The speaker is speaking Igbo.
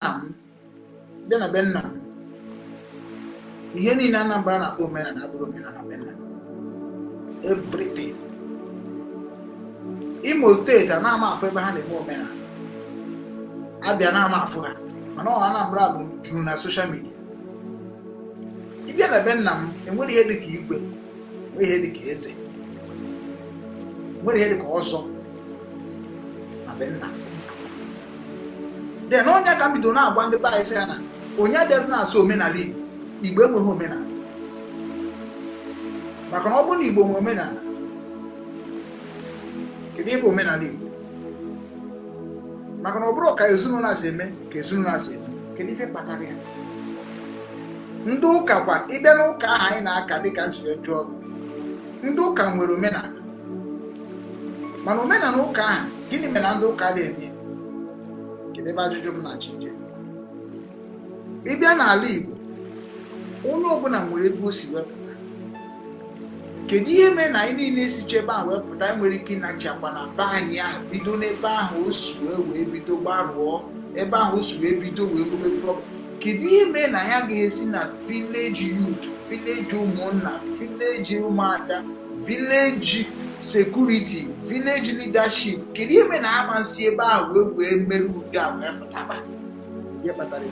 m bịa na be nna m ihe niile Anambra na-akpọ omenala abụrọ omenala na be nna m everything Imo State a na-ama afụ ebe ha na-eme omenala Abia a na-ama afụ ha mana ọ Anambra bụ juru na social media ị bịa na be nna m enwere ihe dị ka igwe nwere ihe dị ka eze nwere ihe dị ka ọzọ na be nna then onye ka m bido na-agwa ndị be anyị sị ha na onye abịazina asị omenala igbo igbo enweghị omenala maka na ọ bụrụ na igbo nwee omenala kedu ihe bụ omenala igbo maka na ọ bụrụ ka ezinụlọ si eme ka ezinụlọ si eme kedu ife kpatara ya ndị ụka kwa ị bịa n'ụka ahụ anyị na-aka dịka m si wee jụọ ọrụ ndị ụka nwere omenala mana omenala ụka ahụ gịnị mere na ndị ụka na-eme kedu ebe ajụjụ m na-achị ije ị bịa n'ala Igbo onye ọbụla nwere ebe o si wee pụta kedu ihe mere na anyị niile sicha ebe ahụ wee pụta enwere ike ịnachikwa na be anyị ahụ bido n'ebe ahụ o si wee bido gbarụọ ebe ahụ o si wee bido wee nwebe problem kedu ihe mere na anyị agaghị esi na village youth village ụmụnna village ụmụada village security village leadership kedu ihe mere na anyị ama si ebe ahụ wee wee mere udo a wee pụtaba ihe kpatara ya